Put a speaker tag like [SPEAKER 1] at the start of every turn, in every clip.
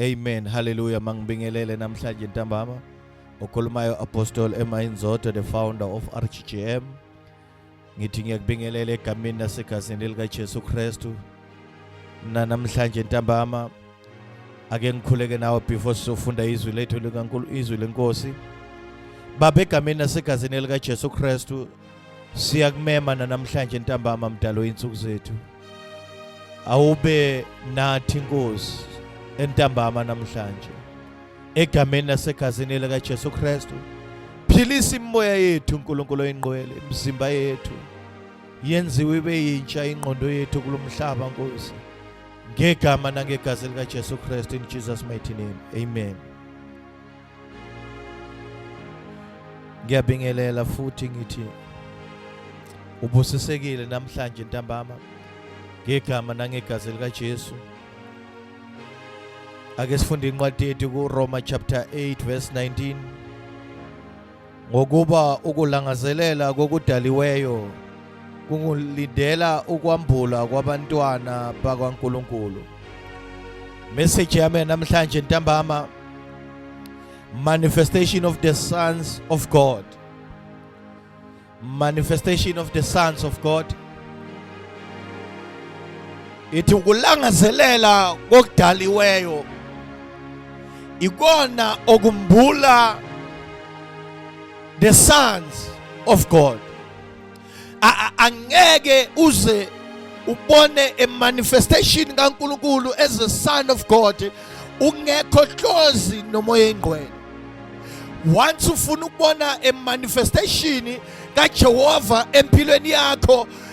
[SPEAKER 1] Amen. Hallelujah. Mangibingelele namhlanje ntambama. Okhulumayo Apostle Emma Inzoto the founder of RGGM. Ngithi ngiyakubingelela egameni nasegazini lika Jesu Kristu. Na namhlanje ntambama ake ngikhuleke nawe before sizofunda izwi lethu likaNkulu izwi lenkosi. Baba egameni nasegazini lika Jesu Kristu siyakumema nanamhlanje ntambama mdalo insuku zethu awube nathi inkosi entambama namhlanje egameni nasegazini lika Jesu Kristu philisa imoya yethu uNkulunkulu oyingqwele imizimba yethu yenziwe ibe yintsha ingqondo yethu kulomhlaba nkosi ngegama nangegazi lika Jesu Kristu in Jesus mighty name amen ngiyabingelela futhi ngithi ubusisekile namhlanje ntambama ngegama nangegazi likaJesu ake sifunde incwadi yethu kuRoma chapter 8 verse 19 Ngokuba ukulangazelela kokudaliweyo kungulindela ukwambula kwabantwana bakwaNkulunkulu. Message yami namhlanje ntambama manifestation of the sons of God. Manifestation of the sons of God. ithi ukulangazelela kokudaliweyo ikona okumbula the sons of God angeke uze ubone a manifestation kaNkuluNkulu as a son of God ungekho hlozi nomoya engcwele once ufuna ukubona a manifestation kaJehova empilweni yakho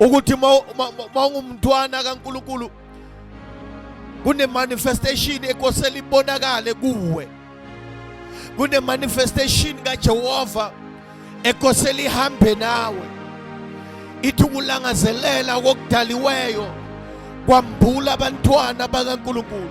[SPEAKER 1] ukuthi mawungumntwana kaNkulunkulu kunemanifestation ekosela ibonakale kuwe kunemanifestation kaJehova ekosela ihambe nawe ithi ukulangazelela kokudaliweyo kwambula abantwana bakaNkulunkulu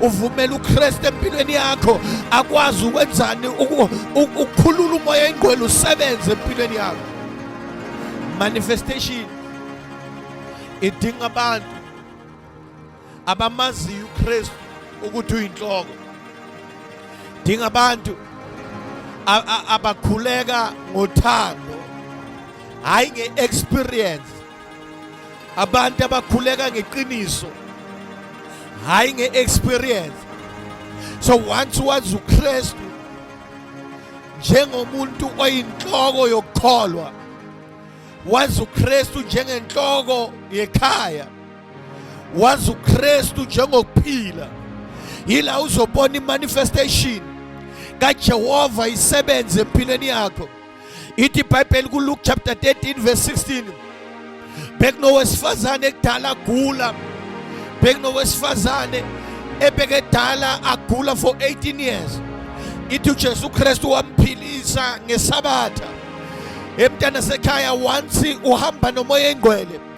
[SPEAKER 1] uvumela uKristu empilweni yakho akwazi ukwenzani ukukhulula umoya ingqwele usebenze empilweni yakho manifestation idinga abantu abamaziyo uKristu ukuthi uyinhloko dinga abantu abakhuleka ngothando hayi ngeexperience abantu abakhuleka ngeqiniso hayi nge-experience so once wazi ukristu njengomuntu oyinhloko yokukholwa wazi ukristu njengenhloko yekhaya wazi ukristu njengokuphila yila uzobona imanifestation kajehova isebenze empilweni yakho ithi ibhayibheli kuluke chapter 13 verse 16 bekunowesifazane ekudala agula bekunowesifazane ebekadala agula for 18 years ithi uJesu Kristu wamphilisa ngesabatha emntana sekhaya once uhamba nomoya engcwele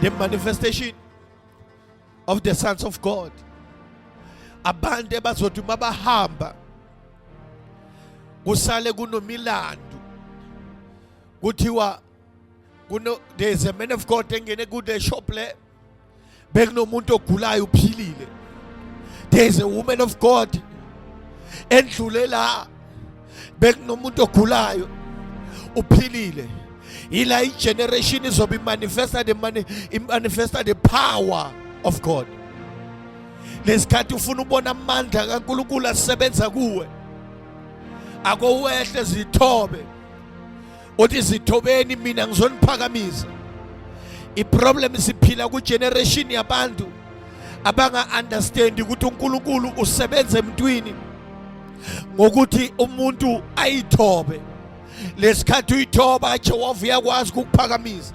[SPEAKER 1] the manifestation of the sons of God abantu ebazothi uma bahamba kusale kunomilandu kuthiwa kuno there is a man of God engene ku the shop le bekunomuntu ogulayo uphilile there is a woman of God endlule la bekunomuntu ogulayo uphilile yila igeneration izobe imanifesta the money imanifesta the power of God lesikhathi ufuna ubona amandla kaNkulunkulu asebenza kuwe akowehle zithobe uthi zithobeni mina ngizoniphakamisa iproblem siphila kugeneration yabantu abanga-understandi ukuthi unkulunkulu usebenza emntwini ngokuthi umuntu ayithobe lesikhathi uyithoba jehova uyakwazi ukukuphakamisa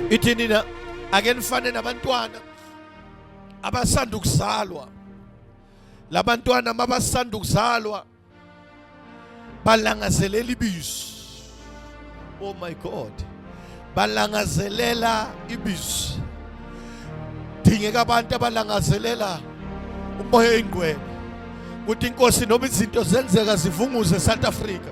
[SPEAKER 1] ithi nina ake nifane nabantwana abasanda ukuzalwa labantwana mabasanda ukuzalwa balangazelela ibizo oh my god balangazelela ibizo dingeka abantu abalangazelela umoya oyingqwele ukuthi inkosi noma izinto zenzeka zivunguze South Africa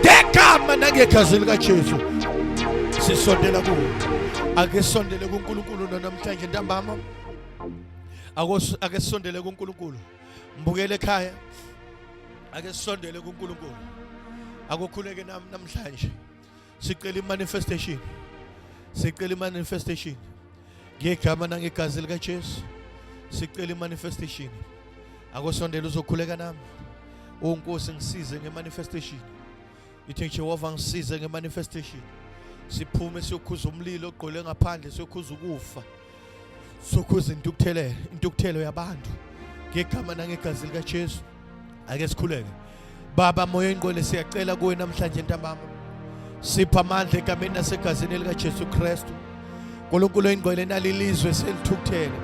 [SPEAKER 1] ngegama nangegazi likaJesu sisondela kuwo ake sondele kuNkulunkulu namhlanje ntambama ake sondele kuNkulunkulu mbukele ekhaya ake sondele kuNkulunkulu akokhuleke nami namhlanje sicela imanifestation sicela imanifestation ngegama nangegazi likaJesu sicela imanifestation akosondela uzokhuleka nami unkosi ngisize ngemanifestation ithi Jehova ngisize ngemanifestation siphume siyokhuza umlilo ogqole ngaphandle siyokhuza ukufa sokhuza intukuthelo intukuthelo yabantu ngegama nangegazi likaJesu ake sikhuleke Baba moya ingqwele siyacela kuwe namhlanje ntambama sipha amandla egameni nasegazini elikaJesu Kristu uNkulunkulu oyingqwele nalilizwe selithukuthele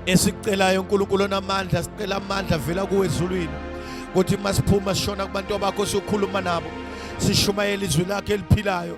[SPEAKER 1] esicelayo uNkulunkulu onamandla sicela amandla vela kuwe ezulwini ukuthi masiphuma sishona kubantu abakho siyokhuluma nabo sishumayela izwi lakhe eliphilayo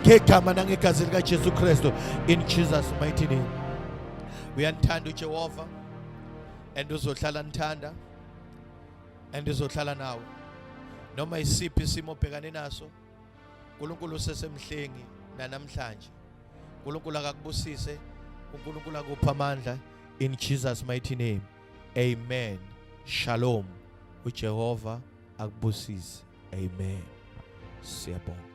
[SPEAKER 1] ngegama nangegazi likaJesu Kristu in Jesus mighty name uyanithanda uJehova and uzohlala nithanda and uzohlala nawe noma isiphi isimo obhekane naso uNkulunkulu usesemhlengi nanamhlanje uNkulunkulu akakubusise uNkulunkulu akupha amandla in Jesus mighty name amen shalom uJehova akubusise amen siyabonga